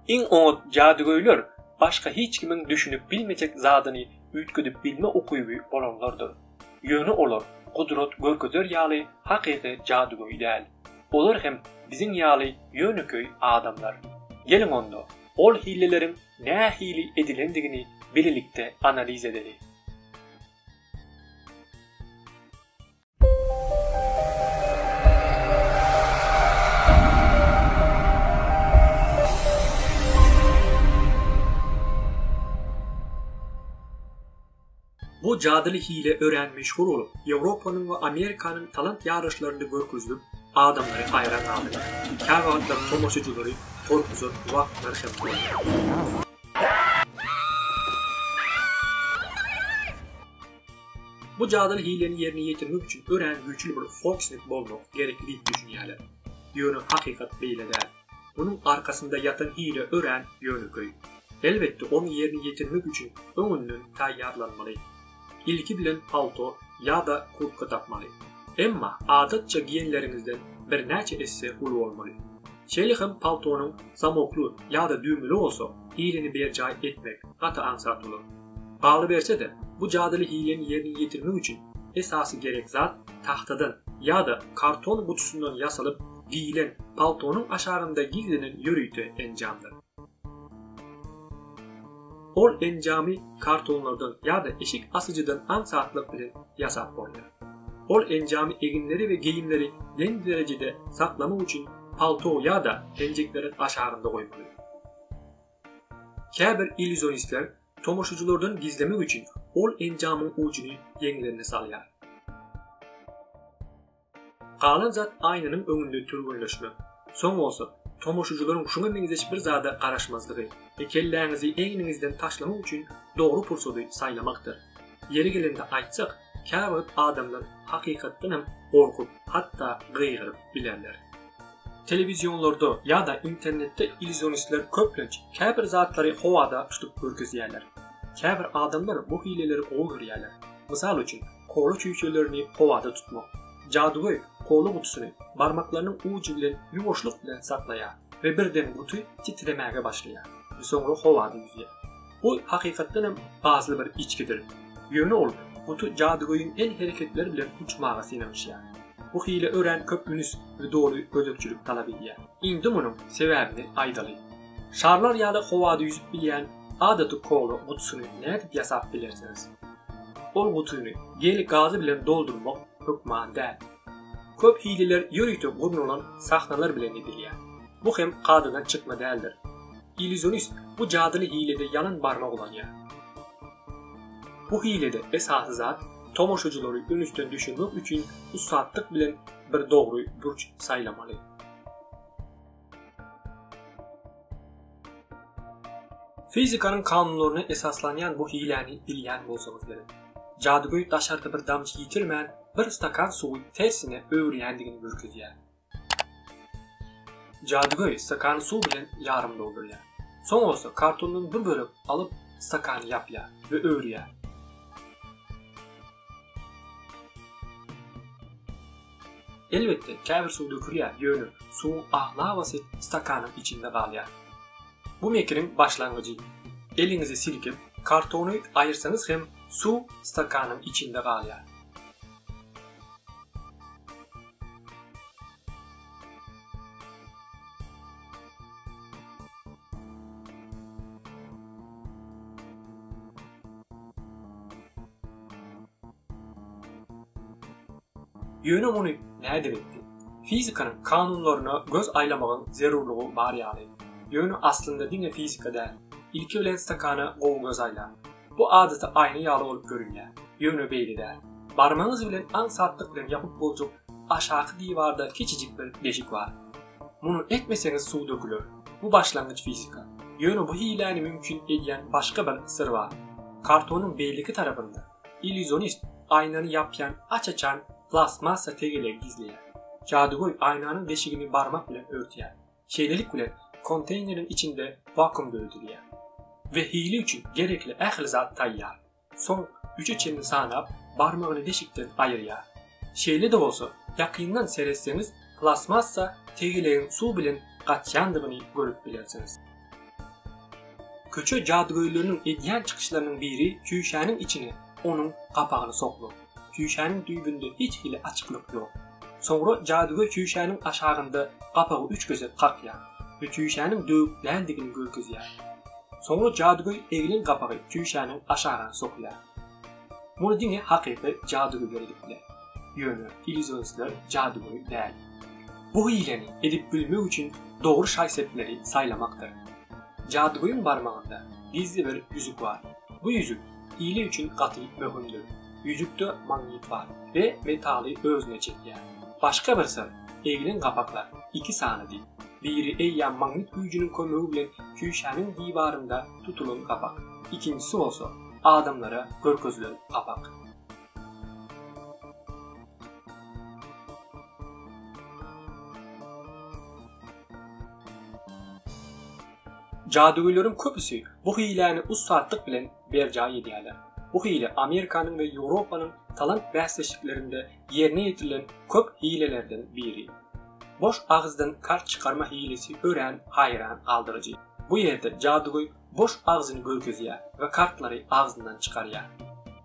Iň oňat jadygöýler başga hiç kimiň düşünip bilmejek zadyny üýtgedip bilme ukyby bolanlardyr. Ýöne olar gudrat görkezer ýaly hakyky jadygöý däl. Olar hem biziň ýaly ýönekeý adamlar. Geliň onda, ol hileleriň nähili edilendigini bilelikde analiz edeli. Bu jadyly hile örän meşhur bolup, Ýewropanyň we Amerikanyň talant ýaryşlarynda görkezilip, adamlary haýran galdyrýar. Käwagtlar tomaşaçylary gorkuzan wagtlar hem bolýar. Bu jadyly hileni ýerine ýetirmek üçin örän güýçli bir fokusnik bolmak gerekli diýip düşünýärler. Ýöne hakykat beýle däl. Munuň arkasynda ýatan hile örän ýönekeý. Elbetde ony ýerine ýetirmek üçin öňünden taýýarlanmaly. Ilki bilen palto ýa-da kurtka tapmaly. Emma adatça giýenleriňizden birnäçe esse uly bolmaly. Şeýle hem paltonyň zamokly ýa-da düwmeli bolsa, hilini berjaý etmek gaty aňsat bolar. Galyberse-de, bu jadyly hileni ýerine ýetirmek üçin esasy gerek zat tagtadan ýa-da karton gutusyndan ýasalyp geýilen paltonyň aşagynda gizlenen ýörite enjamdyr. Ol enjamy kartonlardan ýa-da eşik asyjydan aňsatlyk bilen ýasap bolýar. Ol enjamy eginleri we geýimleri deň derejede saklamak üçin palto ýa-da penjekleriň aşagynda goýmaly. Käbir illýuzionistler tomaşaçylardan gizlemek üçin ol enjamyň ujuny ýeňlerine salýar. Galan zat aýnanyň öňünde türgenleşmek. Soň bolsa, tomaşaçylaryň şuňa meňzeş bir zada garaşmazlygy we kelläňizi egniňizden taşlamak üçin dogry pursady saýlamakdyr. Ýeri gelende aýtsak, Käwagt adamlar hakykatdan hem gorkup, hatda gygyryp bilerler. Telewizionlarda ýa-da internetde illuzionistler köplenç käbir zatlary howada tutup görkezýärler. Käbir adamlar bu hileleri gowy görýärler. Mysal üçin, kola çüýşelerini howada tutmak. Jadygöý kola gutusyny barmaklarynyň ujy bilen ýuwaşlyk bilen saklaýar we birden guty titremäge başlaýar we soňra howada ýüzýär. Bu hakykatdan hem pasly bir içgidir. Ýöne ol guty jadygöýiň el hereketleri bilen uçmaga synanyşýar. Bu hile örän köp ünüs we doly gözegçilik talap edýär. Indi munuň sebäbini aýdaly. Şarlar ýaly howada ýüzüp bilýän adaty kola gutusyny nädip ýasap bilersiňiz? Ol gutyny gel gazy bilen doldurmak hökman däl. Köp hililer ýörite gurnalan sahnalar bilen edilýär. Bu hem kadadan çykma däldir. Illýuzionist bu jadyly hilede ýalan barmak ulanýar. Bu hilede esasy zat, tomaşaçylary ünüsden düşürmek üçin ussatlyk bilen bir dogry burç saýlamaly. Fizikanyň kanunlaryna esaslanýan bu hiläni bilýän bolsaňyz gerek. Jadygöý daşarda bir damja ýitirmän, bir stakan suwy tersine öwürýändigini görkezýär. Jadygöý stakany suw bilen ýarym doldurýar. Soň bolsa kartondan bir bölek alyp, stakany ýapýar we öwürýär. Elbetde, käbir suw dökülýär, ýöne suwuň aglabasy stakanyň içinde galýar. Bu mekiriň başlangyjy. Eliňizi silkip, kartony aýyrsaňyz hem suw stakanyň içinde galýar. Ýöne muny nädip etdi? Fizikanyň kanunlaryna göz aýlamagyň zerurlygy bar ýaly. Ýöne aslynda diňe fizika däl. Ilki bilen stakana gowy göz aýlaň. Bu adaty aýna ýaly bolup görünýär. Ýöne beýle däl. Barmagyňyz bilen aňsatlyk bilen ýapyp boljak aşaky diwarda kiçijik bir deşik bar. Muny etmeseňiz suw döküler. Bu başlangyç fizika. Ýöne bu hiläni mümkin edýän başga bir syr bar. Kartonyň beýleki tarapynda. Illýuzionist aýnany ýapýan aç-açan plastmassa tegelegi gizleýär. Jadygöý aýnanyň deşigini barmak bilen örtýär. Şeýlelik bilen, konteýneriň içinde wakuum döredilýär. We hile üçin gerekli ähli zat taýýar. Soň üçe çenli sanap, barmagyny deşikden aýyrýar. Şeýle-de bolsa, ýakyndan seretseňiz, plastmassa tegelegiň suw bilen gaçýandygyny görüp bilersiňiz. Köçe jadygöýleriniň edýän çykyşlarynyň biri çüýşäniň içine onuň gapagyny sokmak. Çüýşäniň düýbünde hiç hili açyklyk ýok. Soňra jadygöý çüýşäniň aşagynda gapagy üç gezek kakýar we çüýşäniň döwük däldigini görkezýär. Soňra jadygöý egilen gapagy çüýşäniň aşagyna sokýar. Muny diňe hakyky jadygöýler edip biler. Ýöne illýusionistler jadygöý däl. Bu hileni edip bilmek üçin dogry şaý-sepleri saýlamakdyr. Jadygöýüň barmagynda gizli bir ýüzük bar. Bu ýüzük hile üçin gaty möhümdir. Ýüzükde magnit bar we metaly özüne çekýär. Başga bir syr, egilen gapaklar iki sanydy. Biri eýýäm magnit güýjüniň kömegi bilen küşäniň diwarynda tutulan gapak. Ikinjisi bolsa, adamlara görkezilen gapak. Jadygöýleriň köpüsi bu hiläni ussatlyk bilen berjaý edýärler. Bu hile Amerikanyň we Ýewropanyň talant bäsleşiklerinde ýerine ýetirilen köp hilelerden biri. Boş agyzdan kart çykarma hilesi örän haýran galdyryjy. Bu ýerde jadygöý boş agzyny görkezýär we kartlary agzyndan çykarýar.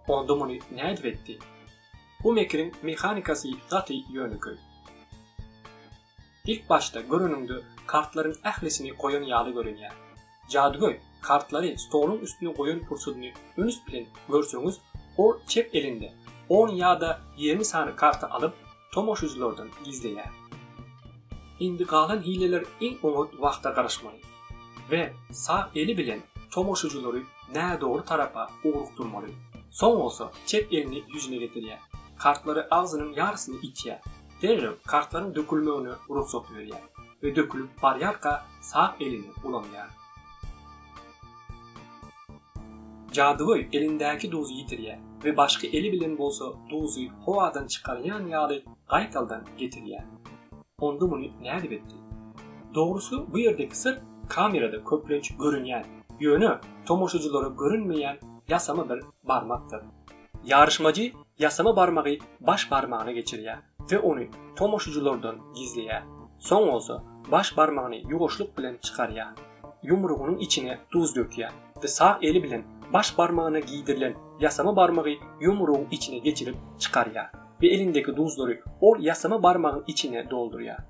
Onda muny nädip etdi? Bu mekiriň mehanikasy gaty ýönekeý. Ilk başda göreniňde kartlaryň ählisini goýan ýaly görünýär. Jadygöý kartlary stoluň üstüne goýan pursadyny üns bilen görseňiz, ol çep elinde on ýa-da ýigrimi sany karty alyp, tomaşyjylardan gizleýär. Indi galan hileler iň oňat wagta garaşmaly we sag eli bilen tomaşyjylary nädogry tarapa ugrukdyrmaly, soň bolsa çep elini ýüzüne getirýär, kartlary agzynyň ýarysyny itýär. Derrew kartlaryň dökülmegine rugsat berýär we dökülip barýarka sag elini ulanýar. Jadygöý elindäki duzy ýitirýär we başky eli bilen bolsa duzy howadan çykarýan ýaly gaýtaldan getirýär. Onda muny nädip etdi? Dogrusy bu ýerdeki syr kamerada köplenç görünýän, ýöne tomaşaçylara görünmeýän ýasama bir barmakdyr. Ýaryşmajy ýasama barmagy baş barmagyna geçirýär we ony tomaşyjylardan gizleýär. Soň bolsa baş barmagyny ýuwaşlyk bilen çykarýar. Ýumrugynyň içine duz dökýär we sag eli bilen baş barmagyna giýdirilen ýasama barmagy ýumrugyň içine geçirip çykarýar we elindeki duzlary ol ýasama barmagyň içine doldurýar.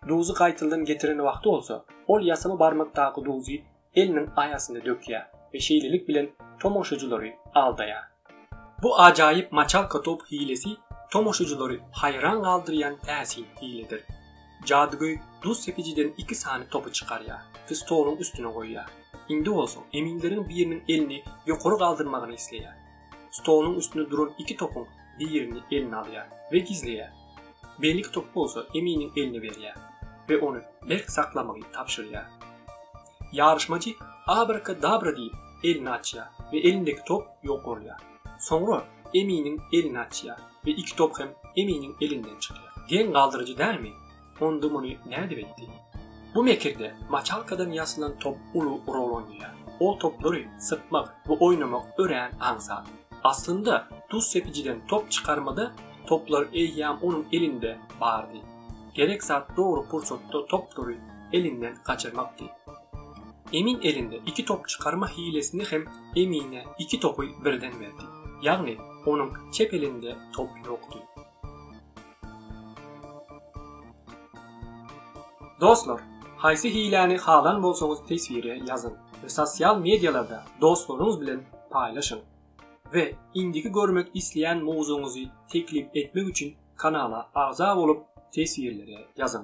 Duzy gaýtadan getiren wagty bolsa, ol ýasama barmakdaky duzy eliniň aýasyna dökýär we şeýlelik bilen tomaşajylary aldaýar. Bu ajaýyp maçalka top hilesi tomaşajylary haýran galdyrýan täsin hiledir. Jadygöý duz sepijiden iki sany topy çykarýar we stoluň üstüne goýýar. Indi bolsa eminleriň biriniň elini ýokary galdyrmagyny isleýär. stoluň üstünde duran iki topuň birini eline alýar we gizleýär. Beýleki topy bolsa Eminiň eline berýär we ony berk saklamagy tabşyrýar. Ýaryşmajy Abrakadabra diýip, elini açýar we elindäki top ýok bolýar. Soňra Eminiň elini açýar we iki top hem Eminiň elinden çykýar. Geň galdyryjy dälmi? Onda muny nädip etdi? Bu mekirde maçalkadan ýasalan top uly rol oýnaýar. Ol toplary sypmak we oýnamak örän aňsat. Aslynda, duz sepijiden top çykarmada toplar eýýäm onuň elinde bardy. Gerek zat dogry pursatda toplary elinden gaçyrmakdy. Emin elinde iki top çykarma hilesini hem Emine iki topy birden berdi. Ýagny, onuň çep elinde top ýokdy. Dostlar, haýsy hiläni halan bolsaňyz teswire ýazyň we sosial mediýalarda dostlaryňyz bilen paýlaşyň. We indiki görmek isleýän mowzugyňyzy teklip etmek üçin kanala agza bolup teswirlere ýazyň.